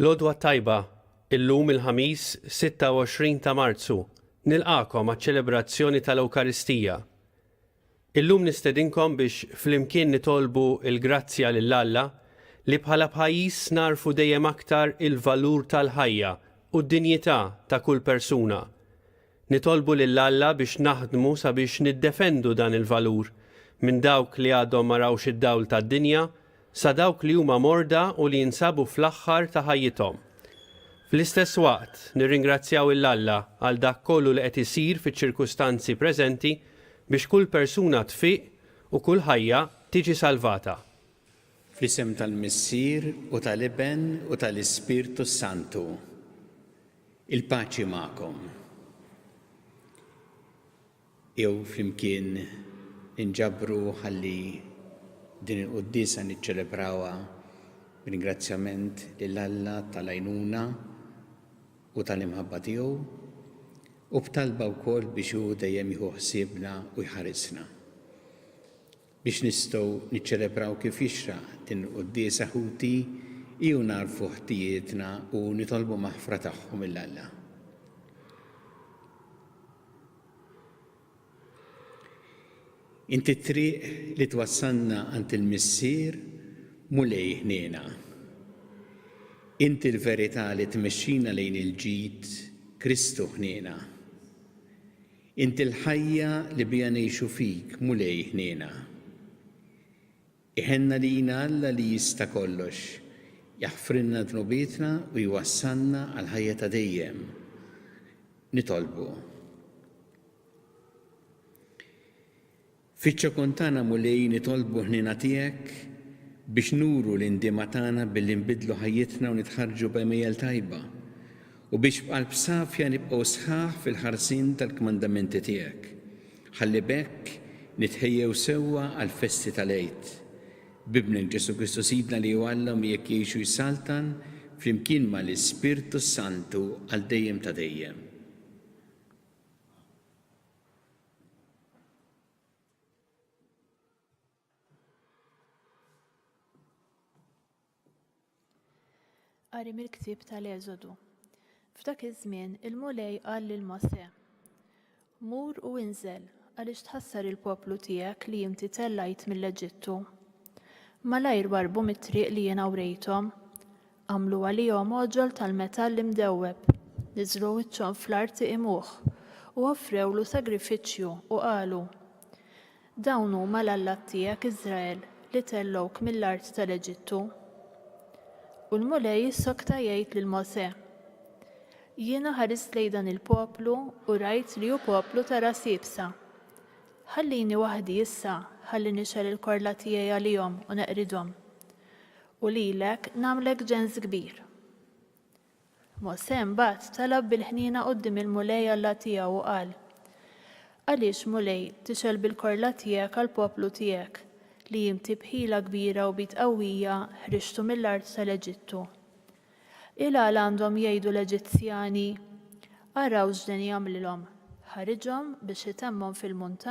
Lodwa tajba, illum il-ħamis 26 ta' Marzu, nilqakom għaċ-ċelebrazzjoni tal-Ewkaristija. Illum nistedinkom biex flimkien nitolbu l-grazzja lil Alla li bħala pajjiż nagħrfu dejjem aktar il-valur tal-ħajja u d-dinjità ta' kull persuna. Nitolbu lil Alla biex naħdmu sabiex niddefendu dan il-valur minn dawk li għadhom ma rawx id-dawl tad-dinja sa dawk li huma morda u li jinsabu fl-aħħar ta' ħajjithom. Fl-istess waqt, nirringrazzjaw 'il Alla għal dak kollu li qed isir fiċ-ċirkustanzi preżenti biex kull persuna tfiq u kull ħajja tiġi salvata. Fl-isem tal-Missier u tal-Iben u tal-Ispirtu s-Santu. Il-paċi magħkom. jew flimkien inġabru ħalli din il-quddiesa niċċelebrawha b'ringrazzjament lil Alla tal-għajnuna u tal-imħabba tiegħu, u b'talba wkoll biex hu dejjem jieħu ħsiebna u jħarisna. biex nistgħu niċċelebraw kif jixraq il-quddiesa ħuti hi u nagħrfu ħtijietna u nitolbu maħfra tagħhom lil Alla. Inti t-triq li twassalna għand il-Missier mulej ħniena. Inti l-verità li tmexxina lejn il-ġid Kristu ħniena. Inti l-ħajja li biha ngħixu fik, Mulej, ħniena. Iħenna lina Alla li jista' kollox, jaħfrilna dnubietna u jwassalna għall-ħajja ta' dejjem. Nitolbu. Fiċ-ċokon tagħna, Mulej, nitolbu ħniena tiegħek biex nuru l-indiema tagħna billi nbiddlu ħajjitna u nitħarrġu b'għemejjel tajba, u biex b'qalb safja nibqgħu sħaħ fil-ħarsien tal-kmandamenti tiegħek, ħalli b'hekk nitħejjew sewwa għall-festi tal-Għid. B'Ibnek Ġesù Kristu Sidna li hu Alla u miegħek jgħix u jsaltan flimkien ma' l-Ispirtu s-Santu għal dejjem ta' dejjem. Qari mill-ktieb tal-Eżodu. F'dak iż-żmien il-Mulej qal lil Mosè, Mur u inżel għaliex tħassar il-poplu tiegħek li inti tellajt mill-Eġittu. Malajr warbu mit-triq li jiena wrejthom, Għamlu għalihom għoġol tal-metall imdewweb, niżlu wiċċhom fl-art iqimuh, u offrewlu sagrifiċċju, u qalu, Dawn huma l-allat tiegħek, Iżrael, li tellgħuk mill-art tal-Eġittu. U l-Mulej jissokta jgħid lil Mosè, Jiena ħarist lejn dan il-poplu u rajt li hu poplu ta' ras iebsa. Ħallini waħdi issa ħalli nixgħel il-korla tiegħi għalihom u neqridhom. U lilek nagħmlek ġens kbir. Mosè mbagħad talab bil-ħniena quddiem il-Mulej Alla tiegħu u qal, Għaliex, Mulej, tixgħel bil-korla tiegħek għall-poplu tiegħek, li inti b'ħila kbira u b'id qawwija ħriġtu mill-art tal-Eġittu? Ilgħala għandhom jgħidu l-Eġizzjani, 'Araw x'deni għamlilhom, ħariġhom biex itemmhom fil-muntanji,